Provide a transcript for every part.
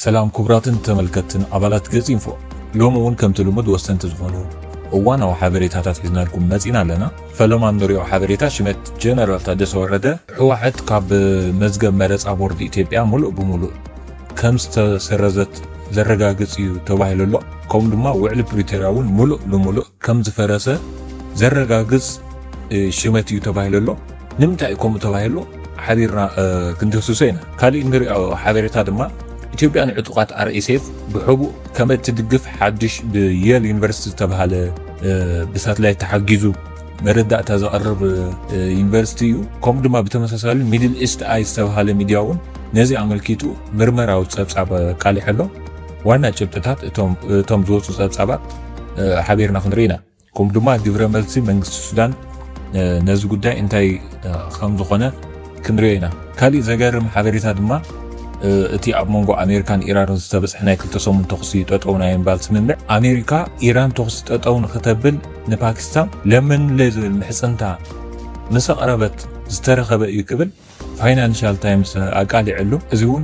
ሰላም ክቡራትን ተመልከትን ኣባላት ገጽ ኢንፎ ሎሚ እውን ከምቲ ልሙድ ወሰንቲ ዝኾኑ እዋናዊ ሓበሬታታት ሒዝናልኩም መጺና ኣለና። ፈለማ እንሪኦ ሓበሬታ ሽመት ጀነራል ታደሰ ወረደ ህወሓት ካብ መዝገብ መረፃ ቦርድ ኢትዮጵያ ሙሉእ ብሙሉእ ከም ዝተሰረዘት ዘረጋግጽ እዩ ተባሂሉ ኣሎ። ከምኡ ድማ ውዕሊ ፕሪቶርያ እውን ምሉእ ንምሉእ ከም ዝፈረሰ ዘረጋግጽ ሽመት እዩ ተባሂሉ ኣሎ። ንምንታይ እዩ ከምኡ ተባሂሉ ሓቢርና ክንድህስሶ ኢና። ካሊእ እንሪኦ ሓበሬታ ድማ ኢትዮጵያ ንዕጡቓት ኣርኤስኤፍ ብሕቡእ ከም እትድግፍ ሓድሽ ብየል ዩኒቨርሲቲ ዝተብሃለ ብሳትላይት ተሓጊዙ መረዳእታ ዘቕርብ ዩኒቨርሲቲ እዩ። ከምኡ ድማ ብተመሳሳሊ ሚድል ኢስት ኣይ ዝተብሃለ ሚድያ እውን ነዚ ኣመልኪቱ ምርመራዊ ፀብፃብ ኣቃሊሑ ኣሎ። ዋና ጭብጥታት እቶም ዝወፁ ፀብፃባት ሓቢርና ክንርኢ ኢና። ከምኡ ድማ ግብረ መልሲ መንግስቲ ሱዳን ነዚ ጉዳይ እንታይ ከምዝኾነ ክንሪኦ ኢና። ካሊእ ዘገርም ሓበሬታ ድማ እቲ ኣብ መንጎ ኣሜሪካን ኢራንን ዝተበፅሐ ናይ ክልተ ሰሙን ተኹሲ ጠጠው ናይ ምባል ስምምዕ ኣሜሪካ ኢራን ተኹሲ ጠጠው ንክተብል ንፓኪስታን ለመንለይ ዝብል ምሕፅንታ ምስ ኣቕረበት ዝተረኸበ እዩ ክብል ፋይናንሻል ታይምስ ኣቃሊዐሉ። እዚ እውን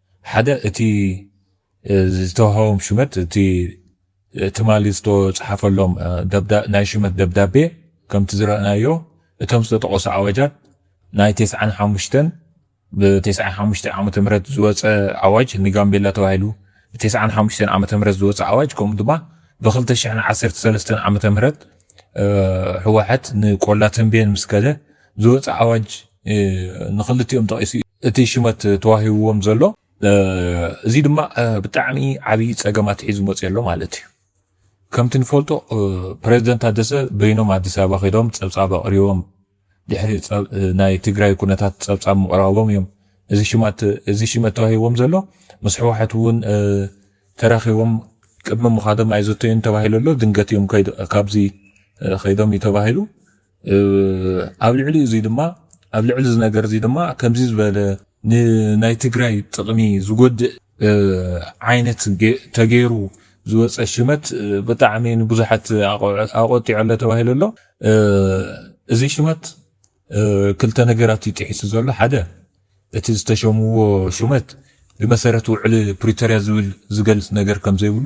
ሓደ እቲ ዝተውሃቦም ሽመት እቲ ትማሊ ዝተፅሓፈሎም ናይ ሽመት ደብዳቤ ከምቲ ዝረእናዮ እቶም ዝተጠቐሱ ኣዋጃት ናይ ቴስዓን ሓሙሽተን ብቴስዓን ሓሙሽተ ዓመተ ምህረት ዝወፀ ኣዋጅ ንጋምቤላ ተባሂሉ ብቴስዓን ሓሙሽተን ዓመተ ምህረት ዝወፀ ኣዋጅ ከምኡ ድማ ብክልተ ሽሕን ዓሰርተ ሰለስተን ዓመተ ምህረት ህወሓት ንቆላ ተንቤን ምስ ከደ ዝወፀ ኣዋጅ ንክልቲኦም ጠቒሱ እዩ። እቲ ሽመት ተዋሂብዎም ዘሎ። እዚ ድማ ብጣዕሚ ዓብይ ፀገም ኣትሒዙ መፂኡ ኣሎ ማለት እዩ። ከምቲ ንፈልጦ ፕረዚደንት ታደሰ በይኖም ኣዲስ ኣበባ ከይዶም ፀብፃብ ኣቕሪቦም ድሕሪ ናይ ትግራይ ኩነታት ፀብፃብ ምቕራቦም እዮም እዚ ሽማት እዚ ሽመት ተዋሂቦም ዘሎ ምስ ሕወሓት እውን ተራኺቦም ቅድሚ ምኻዶም ኣይዘተዩን ተባሂሉ ኣሎ ድንገት እዮም ካብዚ ከይዶም እዩ ተባሂሉ ኣብ ልዕሊ እዙይ ድማ ኣብ ልዕሊ እዚ ነገር እዚ ድማ ከምዚ ዝበለ ንናይ ትግራይ ጥቕሚ ዝጎድእ ዓይነት ተገይሩ ዝወፀ ሽመት ብጣዕሚ ንብዙሓት ኣቆጢዑ ኣሎ ተባሂሉ ኣሎ። እዚ ሽመት ክልተ ነገራት እዩ ጥሒሱ ዘሎ። ሓደ እቲ ዝተሸምዎ ሽመት ብመሰረት ውዕሊ ፕሪቶሪያ ዝብል ዝገልፅ ነገር ከም ዘይብሉ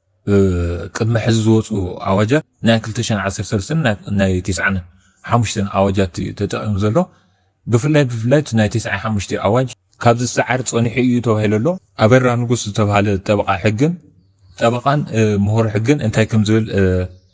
ቅድሚ ሕዚ ዝወፁ ኣዋጃት ናይ ክልተ ሽሕን ዓሰርተ ሰለስተን ናይ ቴስዓን ሓሙሽተን ኣዋጃት እዩ ተጠቒሙ ዘሎ። ብፍላይ ብፍላይ እቲ ናይ ቴስዓን ሓሙሽተን ኣዋጅ ካብ ዝሰዓር ፀኒሑ እዩ ተባሂሉ ኣሎ። ኣበራ ንጉስ ዝተብሃለ ጠበቓ ሕግን ጠበቓን ምሁር ሕግን እንታይ ከምዝብል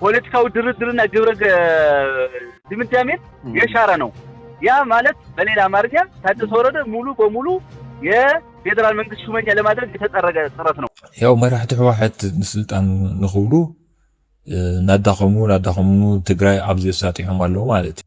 ፖለቲካዊ ድርድርና ግብረ ድምዳሜን የሻረ ነው። ያ ማለት በሌላ አማርኛ ታደሰ ወረደ ሙሉ በሙሉ የፌዴራል መንግስት ሹመኛ ለማድረግ የተጠረገ ጥረት ነው። ያው መራሕቲ ህወሓት ንስልጣን ንክብሉ ናዳኸሙ ናዳኸሙ ትግራይ ኣብዚ ኣሳጢሖም ኣለዉ ማለት እዩ።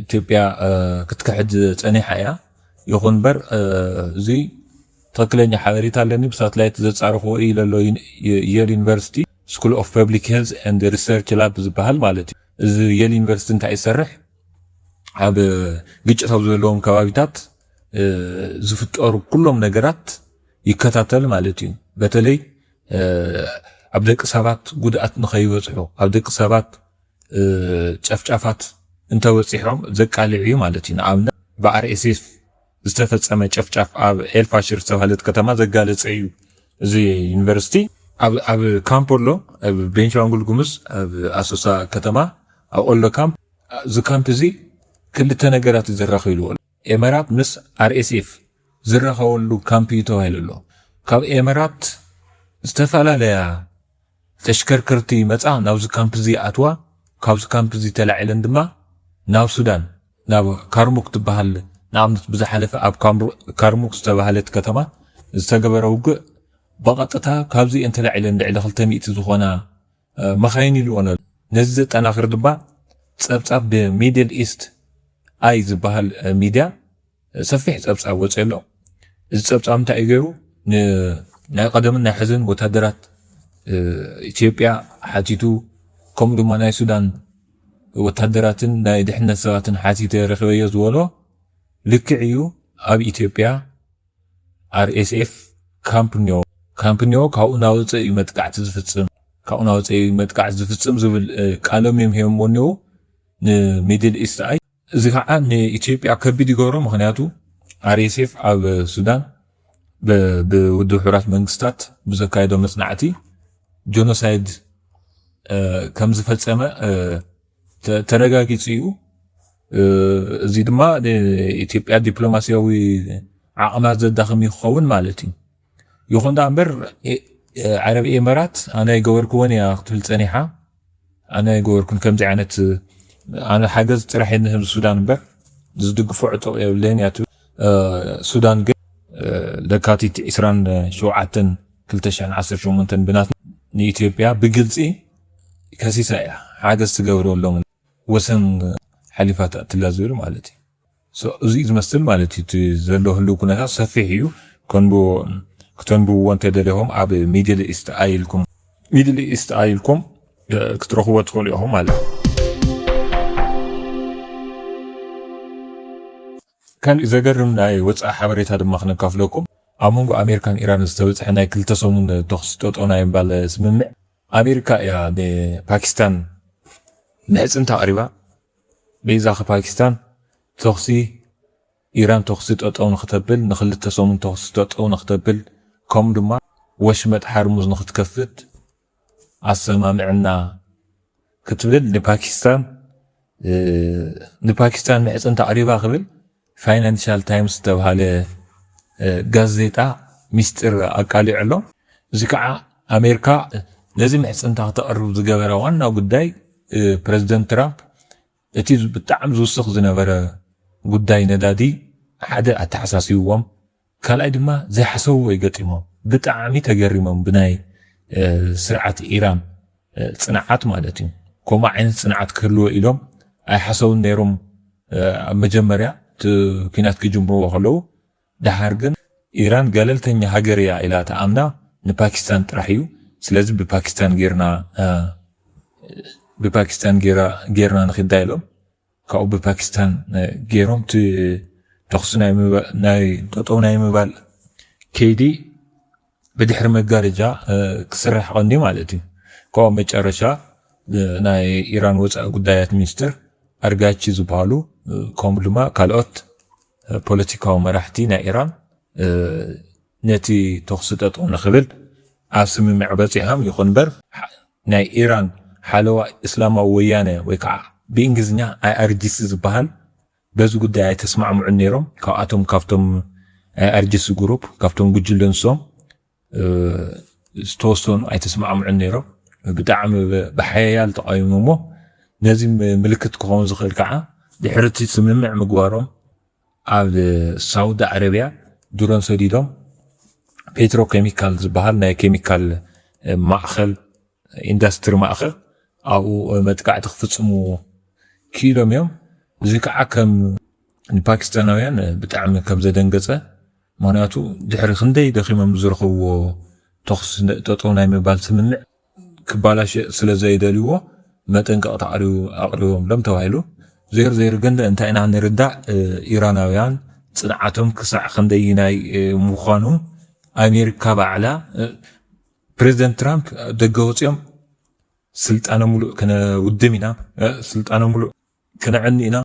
ኢትዮጵያ ክትክሕድ ጸኒሓ እያ። ይኹን እምበር እዚ ትኽክለኛ ሓበሬታ ኣለኒ ብሳትላይት ዘጻረኽዎ እዩ ለሎ የል ዩኒቨርሲቲ ስኩል ኦፍ ፐብሊክ ሄልዝ ኤንድ ሪሰርች ላብ ዝበሃል ማለት እዩ። እዚ የል ዩኒቨርሲቲ እንታይ ይሰርሕ ኣብ ግጭት ኣብ ዘለዎም ከባቢታት ዝፍጠሩ ኩሎም ነገራት ይከታተል ማለት እዩ። በተለይ ኣብ ደቂ ሰባት ጉድኣት ንኸይበፅሑ ኣብ ደቂ ሰባት ጨፍጫፋት እንተበፂሖም ዘቃልዕ እዩ ማለት እዩ። ንኣብነት ብኣርኤስኤፍ ዝተፈፀመ ጨፍጫፍ ኣብ ኤልፋሽር ዝተባህለት ከተማ ዘጋለፀ እዩ እዚ ዩኒቨርሲቲ። ኣብ ካምፖሎ ኣብ ቤንሻንጉል ጉሙዝ ኣብ ኣሶሳ ከተማ ኣብ ኦሎ ካምፕ እዚ ካምፕ እዚ ክልተ ነገራት እዩ ዘራኺብዎ። ኤመራት ምስ RSF ዝራኸበሉ ካምፕ እዩ ተባሂሉ ኣሎ። ካብ ኤመራት ዝተፈላለያ ተሽከርከርቲ ይመጻ ናብዚ ካምፕ እዚ ይኣትዋ፣ ካብዚ ካምፕ እዚ ተላዒለን ድማ ናብ ሱዳን ናብ ካርሙክ ትበሃል ንኣብነት ብዝሓለፈ ኣብ ካርሙክ ዝተባህለት ከተማ ዝተገበረ ውግእ ብቐጥታ ካብዚ እየን ተላዒለን ልዕሊ ክልተ ሚእቲ ዝኾና መኻይን ይልኦን ኣሎ። ነዚ ዘጠናኽር ድማ ጸብጻብ ብ ሚድል ኢስት ኣይ ዝበሃል ሚድያ ሰፊሕ ጸብጻብ ወጺኡ ኣሎ። እዚ ጸብጻብ እንታይ እዩ ገይሩ ን ናይ ቀደምን ናይ ሕዝን ወታደራት ኢትዮጵያ ሓቲቱ ከምኡ ድማ ናይ ሱዳን ወታደራትን ናይ ድሕነት ሰባትን ሓቲተ ረኺበዮ ዝበሎ ልክዕ እዩ ኣብ ኢትዮጵያ RSF ካምፕ ኞ ካምፕ ኞ ካብኡ እናወጸ እዩ መጥቃዕቲ ዝፍጽም ካብኡ እናወጸ እዩ መጥቃዕቲ ዝፍጽም ዝብል ቃሎም እዮም ሂቦምዎ እኔዉ ንሚድል ኢስት ኣይ እዚ ከዓ ንኢትዮጵያ ከቢድ ይገብሮ ምክንያቱ RSF ኣብ ሱዳን ብውድብ ሕቡራት መንግስታት ብዘካየዶ መጽናዕቲ ጆኖሳይድ ከም ዝፈጸመ ተረጋጊጹ እዩ። እዚ ድማ ንኢትዮጵያ ዲፕሎማሲያዊ ዓቕማ ዘዳኽም እዩ ክኸውን ማለት እዩ። ይኹን ደኣ እምበር ዓረብ ኤመራት ኣነ ኣይገበርክዎን እያ ክትብል ጸኒሓ። ኣነ ኣይገበርኩን ከምዚ ዓይነት ኣነ ሓገዝ ጥራሕ እየ ንህብ ሱዳን እምበር ዝድግፎ ዕጡቕ የብለይን እያ ትብል። ሱዳን ግን ለካቲት 27 2018 ብናት ንኢትዮጵያ ብግልጺ ከሲሳ እያ ሓገዝ ትገብረሎምን ወሰን ሓሊፋ ትኣትላ ዝብል ማለት እዩ። እዚ እዩ ዝመስል ማለት እዩ እቲ ዘሎ ህልው ኩነታት ሰፊሕ እዩ ከንብቦ ክተንብብዎ እንተደሊኹም ኣብ ሚድል ኢስት ኣይ ኢልኩም ሚድል ኢስት ኣይ ኢልኩም ክትረኽብዎ ትኽእሉ ኢኹም ማለት እዩ። ካልእ ዘገርም ናይ ወጻኢ ሓበሬታ ድማ ክነካፍለኩም ኣብ መንጎ ኣሜሪካን ኢራንን ዝተበጽሐ ናይ ክልተ ሰሙን ተኹሲ ጠጠው ናይ ምባል ስምምዕ ኣሜሪካ እያ ንፓኪስታን ምሕጽንታ ኣቕሪባ፣ በይዛ ፓኪስታን ተኹሲ ኢራን ተኹሲ ጠጠው ንኽተብል፣ ንኽልተ ሰሙን ተኹሲ ጠጠው ንኽተብል ከምኡ ድማ ወሽመጥ ሓርሙዝ ንኽትከፍት ኣሰማሚዕና ክትብል ንፓኪስታን ንፓኪስታን ምሕጽንታ ኣቕሪባ ክብል ፋይናንሻል ታይምስ ዝተብሃለ ጋዜጣ ሚስጢር ኣቃሊዑ ኣሎ። እዚ ከዓ ኣሜርካ ነዚ ምሕጽንታ ክተቕርብ ዝገበራ ዋና ጉዳይ ፕረዚደንት ትራምፕ እቲ ብጣዕሚ ዝውስኽ ዝነበረ ጉዳይ ነዳዲ ሓደ ኣተሓሳሲብዎም ካልኣይ ድማ ዘይሓሰብዎ እዩ ገጢሞም ብጣዕሚ ተገሪሞም ብናይ ስርዓት ኢራን ጽንዓት ማለት እዩ ከምኡ ዓይነት ጽንዓት ክህልዎ ኢሎም ኣይሓሰቡን ነይሮም ኣብ መጀመርያ እቲ ኩናት ክጅምርዎ ከለዉ ደሓር ግን ኢራን ገለልተኛ ሃገር እያ ኢላ ትኣምና ንፓኪስታን ጥራሕ እዩ ስለዚ ብፓኪስታን ጌርና ብፓኪስታን ጌራ ጌርና ንኺዳ ኢሎም ካብኡ ብፓኪስታን ገይሮም እቲ ተኹሲ ናይ ጠጠው ናይ ምባል ከይዲ ብድሕሪ መጋረጃ ክስራሕ ቀንዲ ማለት እዩ። ካብኡ ኣብ መጨረሻ ናይ ኢራን ወፃኢ ጉዳያት ሚኒስትር ኣርጋቺ ዝበሃሉ ከምኡ ድማ ካልኦት ፖለቲካዊ መራሕቲ ናይ ኢራን ነቲ ተኹሲ ጠጠው ንክብል ኣብ ስምምዕ በፂሖም ይኹን እምበር ናይ ኢራን ሓለዋ እስላማዊ ወያነ ወይ ከዓ ብእንግሊዝኛ ኣይኣርጂሲ ዝበሃል በዚ ጉዳይ ኣይተስማዕምዑን ነይሮም። ካብኣቶም ካብቶም ኣይኣርጂሲ ግሩፕ ካብቶም ጉጅለ ንሶም ዝተወሰኑ ኣይተስማዕምዑን ነይሮም። ብጣዕሚ ብሓያል ተቓዊሞሞ ነዚ ምልክት ክኸውን ዝኽእል ከዓ ድሕሪ እቲ ስምምዕ ምግባሮም ኣብ ሳውዲ ዓረብያ ድሮን ሰዲዶም ፔትሮ ኬሚካል ዝበሃል ናይ ኬሚካል ማእኸል ኢንዳስትሪ ማእኸል ኣብኡ መጥቃዕቲ ክፍፅሙ ክኢሎም እዮም። እዚ ከዓ ከም ንፓኪስታናውያን ብጣዕሚ ከም ዘደንገፀ ምክንያቱ ድሕሪ ክንደይ ደኺሞም ዝረኸብዎ ተኹሲ ጠጠው ናይ ምባል ስምምዕ ክባላሸእ ስለ ዘይደልዩዎ መጠንቀቕታ ኣቕሪቦምሎም ተባሂሉ። ዘይሩ ዘይሩ ግን እንታይ ኢና ንርዳእ ኢራናውያን ጽንዓቶም ክሳዕ ክንደይናይ ምዃኑ ኣሜሪካ ባዕላ ፕሬዚደንት ትራምፕ ደገ ወጽኦም ስልጣነ ሙሉእ ክነውድም ኢና ስልጣነ ሙሉእ ክነዕኒ ኢና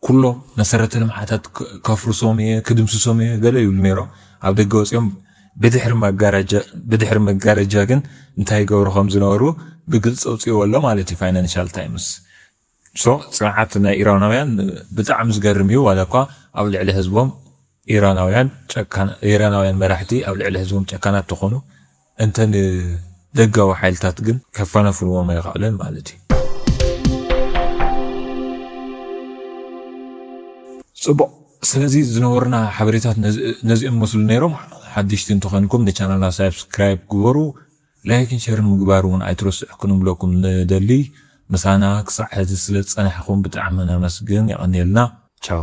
ኩሎም መሰረተ ልምዓታት ከፍርሶም እየ ክድምስሶም እየ ገለ ይብሉ ነይሮም ኣብ ደገ ወፅዮም ብድሕሪ መጋረጃ ግን እንታይ ይገብሩ ከም ዝነበሩ ብግልፂ ኣውፅእዎ ኣሎ ማለት እዩ ፋይናንሻል ታይምስ ሶ ፅንዓት ናይ ኢራናውያን ብጣዕሚ ዝገርም እዩ ዋላ እኳ ኣብ ልዕሊ ህዝቦም ኢራናውያን ጨካን ኢራናውያን መራሕቲ ኣብ ልዕሊ ህዝቦም ጨካናት ተኾኑ እንተ ንደጋዊ ሓይልታት ግን ከፈናፍንዎም ኣይኸኣለን ማለት እዩ። ጽቡቕ ስለዚ ዝነበሩና ሓበሬታት ነዚኦም መስሉ ነይሮም። ሓደሽቲ እንተኾይንኩም ንቻናልና ሳብስክራይብ ግበሩ፣ ላይክን ሸርን ምግባር እውን ኣይትረስዑ ክንብለኩም ንደሊ። ምሳና ክሳዕ ሕዚ ስለ ዝጸናሕኩም ብጣዕሚ ነመስግን። የቐንየልና። ቻው።